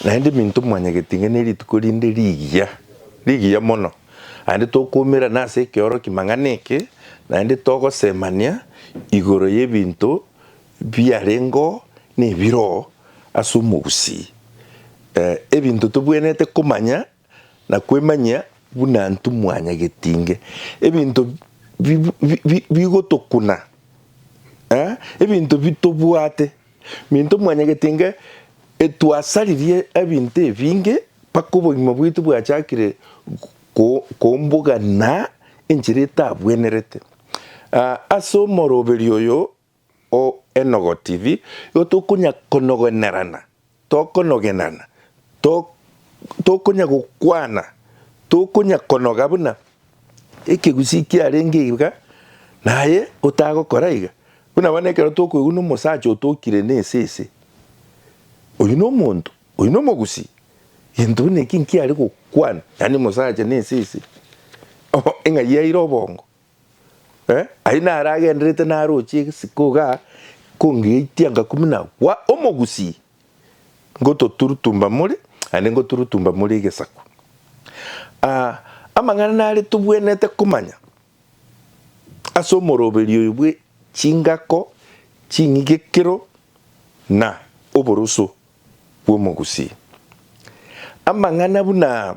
Naende minto mwanyagete inga ne rituko rinde rigiya, rigiya mono, naende tokoumerana ase ekeoroki mang'ana eke, naende togosemania igoro y'ebinto biarengeo na ebiroo ase omogusii, ee, ebinto tobwenerete komanya. na kwemanyia buna intwe mwanyagetinge ebinto bigotokuna, ebinto bitobwate, intwe mwanyagetinge etwasaririe ebinto ebinge mpaka obogima bwaito bwachakire kombogana enchera etabwenerete. Ase omoroberio oyo. O Enogo TV, igo tokonya konogonerana, tokonogenana, to, tokonya gokwana, tokonya konoga buna ekegusii kiarenge iga, naye otagokora iga. Buna bono ekero tokoigwa nomosacha otokire nesese, oyio nomonto, oyio nomogusii, gento buna eki nkiare gokwana, yaani mosacha nesese, oh, eng'ai yaire obongo. Ayio naro agendererete naroche egesiko igaa, kongeitia ngakumina gwa omogusii, ngototurutumba more, naende ngoturutumba more egesaku. Amang'ana nare tobwenerete komanya ase omoroberi oyo bwe chingako, ching'igekero, na oboroso bw'omogusii. Amang'ana buna.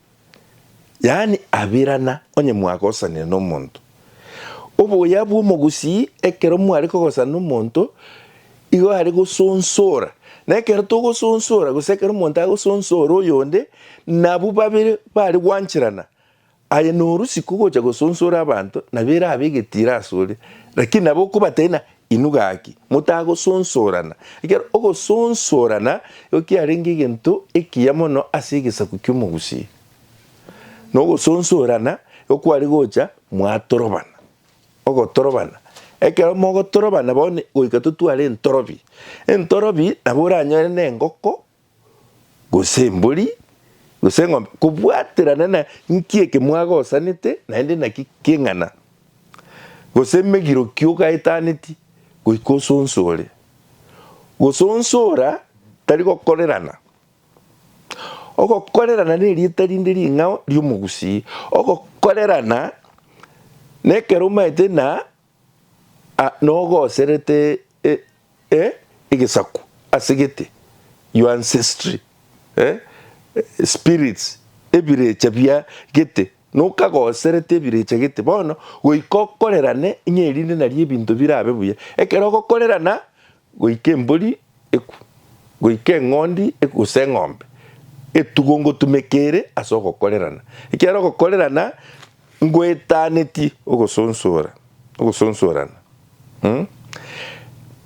yaani abirana, onye mwagosanire nomonto. Oboyao bw'omogusii ekero mware kogosana nomonto igo are gosonsora, na ekero togosonsora gose ekero omonto agosonsora oyonde, nabwo babere bare gwancherana. Aye norisia kogocha gosonsora abanto, nabo erabe egetiro asore, lakini nabo okobatebia ng'a Inwe gaki, motagosonsorana, ekiagera ogosonsorana nigo kiarenge egento ekiya mono ase egesaku ki'omogusii, na ogosonsorana nigo kware gocha mwatorobana. Ogotorobana, ekero mogotorobana bono goika totware entorobi, entorobi nabo oranyore nengoko gose embori, gose eng'ombe, kobwaterana na nki eke mwagosanete naende naki keng'ana, gose emegiro ki ogaetaneti, goika osonsore. Gose onsi ora tari gokorerana, ogokorerana nerieta rinde ring'ao ri'omogusii, ogokorerana nekero omaete na. a nogoserete e, e, egesaku ase gete, your ancestry, e, spirits, ebirecha bia gete, nokagoserete ebirecha gete bono, goika okorerane ng'a erinde nario ebinto birabe buya. Ekero ogokorerana, goika embori ekwe, goika eng'ondi ekwe gose eng'ombe etugo ngotumeka ere ase ogokorerana, ekiagera ogokorerana ngoetanetie ogosonsora, ogosonsorana.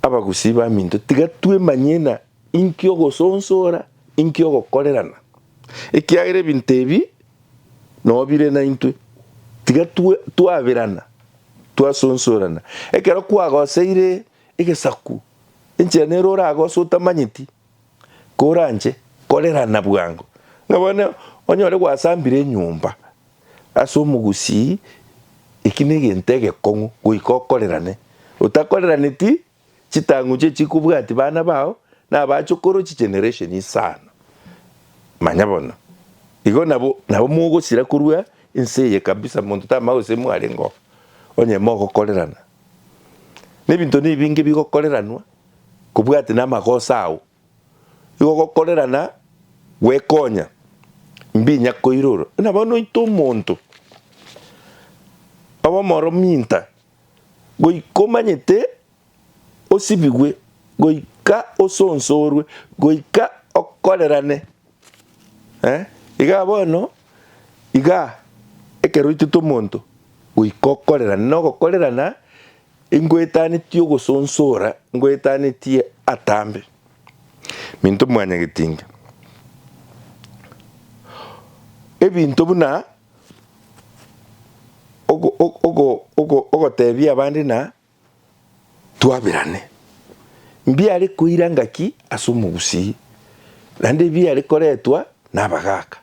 Abagusii baminto tiga twemanye ng'a inki ogosonsora, inki ogokorerana, ekiagera ebinto ebi noo bire naintwe. Tiga twaberana, twasonsorana, ekero kwagoseire. Egesaku, enchera nero oraage ase otamanyeti, koranche korerana bwango, ng'a bono onyore gwasambire enyomba ase omogusii, eki negento egekong'u goika okorerane. Otakoreraneti, chitang'u chie chikobwati bana bao na abachokoro chi generation isano. Manya bono, igo nabo nabo mogosira korwa ense eye kabisa monto tamanya gose mwarenge oo, onye mogokorerana. Nebinto nibinge bigokoreranwa kobwate namagoso ao, igo gokorerana gwekonya mbinya koirora. Buna bono oite omonto obe omoro minta, goika omanyete osibigwe, goika osonsorwe, goika okorerane. Eh, igaa bono, igaa, ekero oitete omonto goika okorerane, na ogokorerana ingoetanetie ogosonsora, ngoetanetie atambe. Minto mwanyagetinga, ebinto buna ogo ogo ogo ogotebia abande na. Twaberane. Mbiare koira ngaki ase omogusii, naende ebiare koretwa nabagaaka.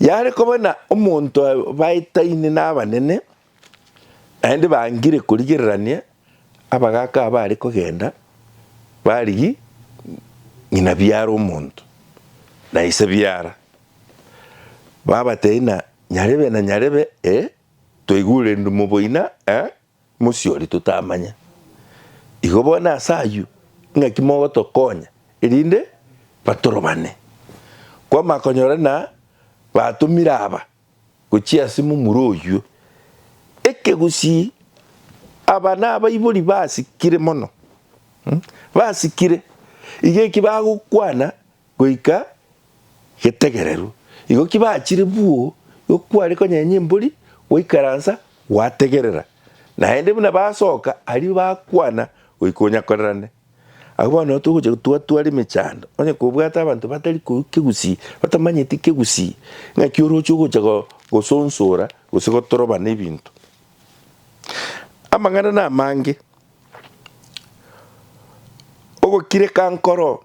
Yare koba na omonto abaetaine nabanene, naende bangire korigererania abagaaka aba are kogenda barigie ng'ina biara omonto, na ise biara. Babatebia ng'a nyarebe na nyarebe, ee, Twaigurerigwe moboina e mosiori totamanya. Igo bono ase ayio ing'aki mogotokonya erinde batorobane. Kwamaka konyora na batomire aba gochia ase momura oyio. Ekegusii aba nabaibori basikire mono. Basikire. Iga eki bagokwana Goika getegereru. Igo ki bachire buo, igo kware konyenya embori, gwaikaransa, gwategerera. Naende buna basoka aria bakwana goika onyakorerane. Agwo bono nabo togocha gotwatwara emechando, onye kobwate abanto batari korwa kegusii, batamanyeti kegusii, ng'aki oroche ogocha gosonsora gose gotorobana ebinto. Amang'ana namange, ogokireka nkoro.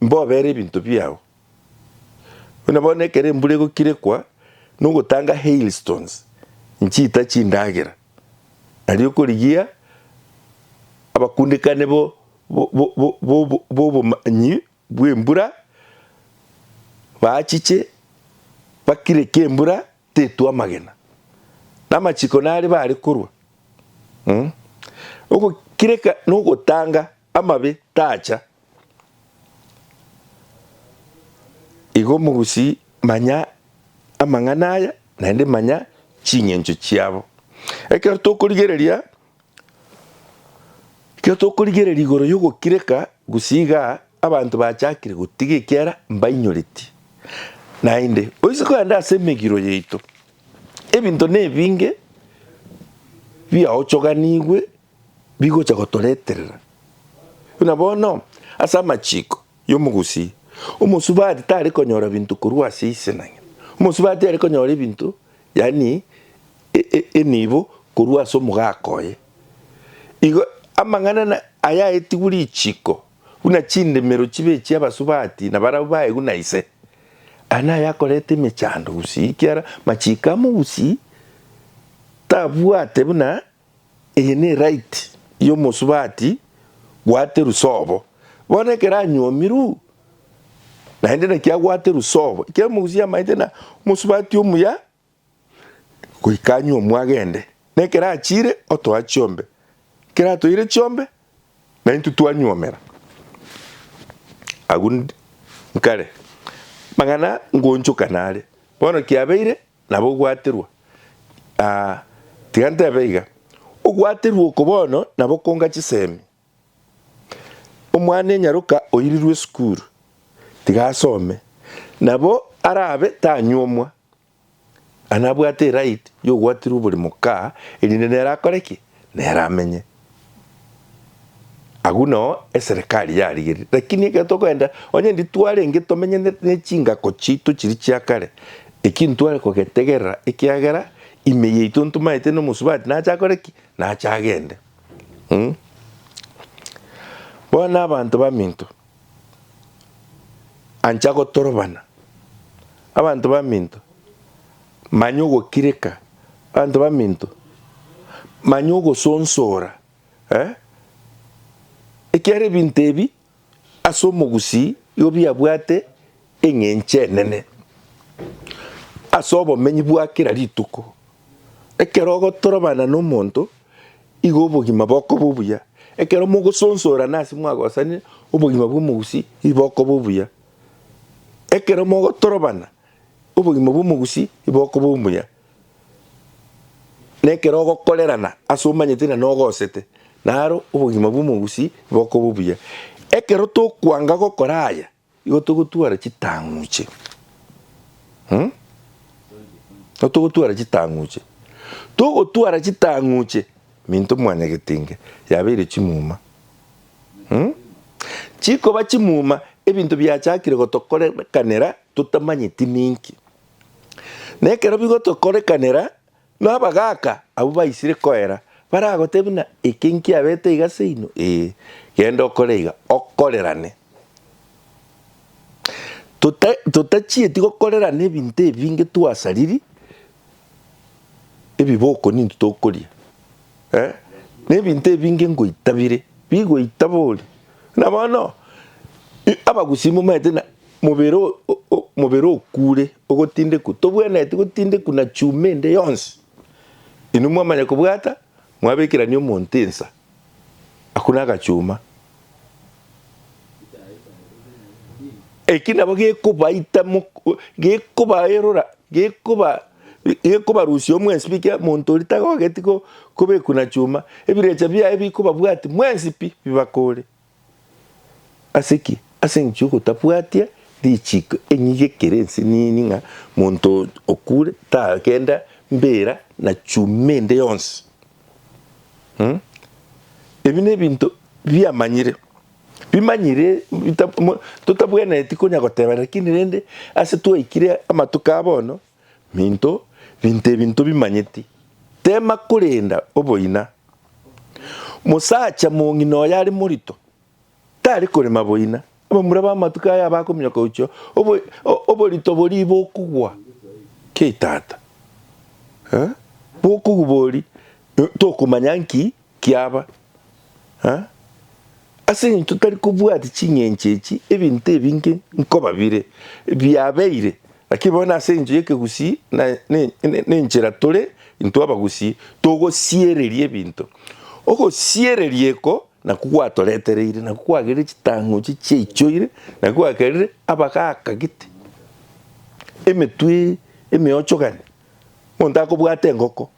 Mbobere ebinto biao. Buna bono ekero embura egokirekwa nogotanga hailstones, nchiita chindagera, aria okorigia abakundekane b'obomanyi bw'embura baachiche bakireke embura tetwa amagena, na amachiko nare bare korwa. Ogokireka nogotanga. Amabe tacha. Igo omogusii manya amang'ana aya, naende manya ching'encho chiabo. Ekero tokorigereria, ekero tokorigereria igoro y'ogokireka, gusii iga abanto bachakire gotiga ekiara mbainyoreti. Naende, oise kogenda ase emegiro yaito, ebinto nebinge biaochoganigwe bigocha gotoreterera. Buna bono, ase amachiiko y'omogusii, omosubati tari konyora binto korwa ase ise na ng'ina. Omosubati are konyora ebinto, yaani enibo, korwa ase omogaka oye. Igo amang'ana ayaetigwe richiiko buna chindemero chibe echia abasubati na barabwo baegwe na ise, aya naye akoreta emechando gusii, ekiara machiiko amogusii tabwate buna Eye ne right y'omosubati bwate rusobo. Bono ekero anywomirwu, naende naki agwate rusobo, ekero mogusi yamaete na omosubati omuya, goika anywomu agende. Nekero achire, otoa chiombe. Ekero atoire chiombe, naintwe twanywomera. Agwo nkare, amang'ana ngonchokana are. Bono kiabeire, Nabo ogwaterwa, aa, tiga ntebe iga, ogwaterwa oko bono nabo konga chisemi. Omwana enyaroka oirirwe esukuru, tiga asome, nabo arabe tanyuomwa, aa, nabwate eright y'ogwaterwa bore mokaa, erinde nere akore ki? nere amenye. Agwo nao eserekari yarigeretie, lakini ekero tokoenda onye nditwarenge tomenye ne chingako chiaito chiria chia kare, eki ntware kogetegerera ekiagera ime yaito ntomaete na omosubati nache akore ki? Nache agende. Bono abanto baminto. Ancha gotorobana. Abanto baminto, manya ogokireka. Abanto baminto, manya ogosonsora. Eh? Ekiagera ebinto ebi ase omogusii igo biabwate Eng'encho enene ase obomenyi bwa kera rituko. Ekero ogotorobana nomonto, igo obogima bokoba obuya. Ekero mogosonsorana ase mwagosanire, obogima bw'omogusii ii bokoba obuya. Ekero mogotorobana, obogima bw'omogusii ii bokoba omuya. Na ekero ogokorerana ase omanyete ng'a nogosete, naro obogima bw'omogusii bokoba obuya. Ekero tokwanga gokora aya, Igo togotwara chitang'uche, mm, igo togotwara chitang'uche, togotwara chitang'uche minto mwanyagetenge yabeire chimuma, mm, chikoba chimuma ebinto biachakire gotokorekanera totamanyeti ninki, na ekero bigotokorekanera. Na abagaaka abwo baisire koera baragote buna eke nkiabete iga seino, ee, genda okore iga, okorerane. Tota totachieti gokorerana ebinto ebinge twasariri ebiboko ninto tokoria. Nebinto ebinge ngoita bire bigoita bori. Buna bono abagusii momaete na mobere mobere okure ogotindekwa tobwenereti gotindekwa na chuma ende yonsi. Inwe mwamanya kobwata mwabekerania omonto ensa, akure agachuma. Eki nabo gekobaita mok- gekobaerora, gekoba gekobarusia omwensipi ekiagera monto oria tagogeti ko- kobekwa na chuma, ebirecha biaye bikobabwati mwensi pi bibakore. Ase ki? Ase eng'encho y'ogotabwatia richiko. Enyige ekere ense nini ng'a monto okure tagenda mbera na chuma ende yonsi. Ebi nebinto biamanyire, bimanyire totabwenereti konya goteba lakini rende ase twaikire amatuko ya bono minto binto ebi ntobimanyeti. Tema korenda oboina. Mosacha mong'ina oyo are morito. Tare korema boina. Abamura b'amatuko aya bakominyoka gochia oborito boria bokogwa. Kei tata. Eh? Bokogwa bori tokomanya nki kiaba. Eh? Ase eng'encho totari kobwati ching'encho echi ebinto ebinge nkoba bire biabeire. Lakini bono ase eng'encho y'ekegusii na nenchera tore intwe abagusii togosiereria ebinto. Ogosiereria eko Nakwo gwatoretereire, nakwo kwagerire chitang'uchi chiaichoire, nakwo kwagerire abagakagete emetwe emeochogani, monto akobwata engoko,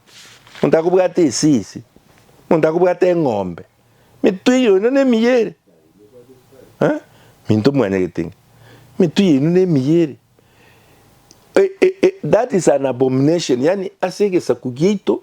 monto akobwata esisi, monto akobwata eng'ombe, emetwe eyio yaino nemiya ere, eh, minto mwanyagete ng'a emetwe yaino nemiya ere. That is an abomination, yaani ase egesaku giaito.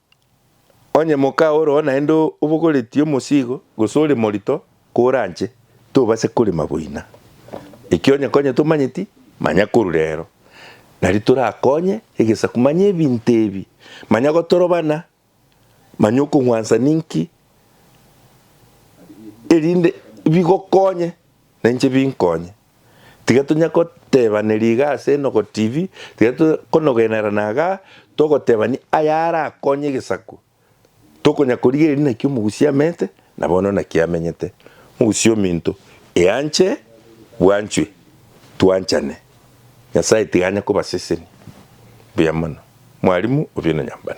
Onye moka ore oo naende obogoretie omosigo, gose ore morito koranche, tobasa korema boina. Ekiagera onye konya tomanyeti, manya korwa reero nario torakonye egesaku. Manya ebinto ebi, manya gotorobana, manya okong'wansa ninki, erinde bigokonye nainche binkonye. Tiga tonya kotebaneri iga ase Enogo TV, tiga tokonogenera na iga togotebani aya arakonye egesaku. Tokonya korigereria naki omogusia amete, na bono naki amenyete. Mogusia ominto, eanche bwanchwe, twanchane. Nyasae tiga anye kobasesenia. Mbuya mono. Mwalimu, obieno nyambane.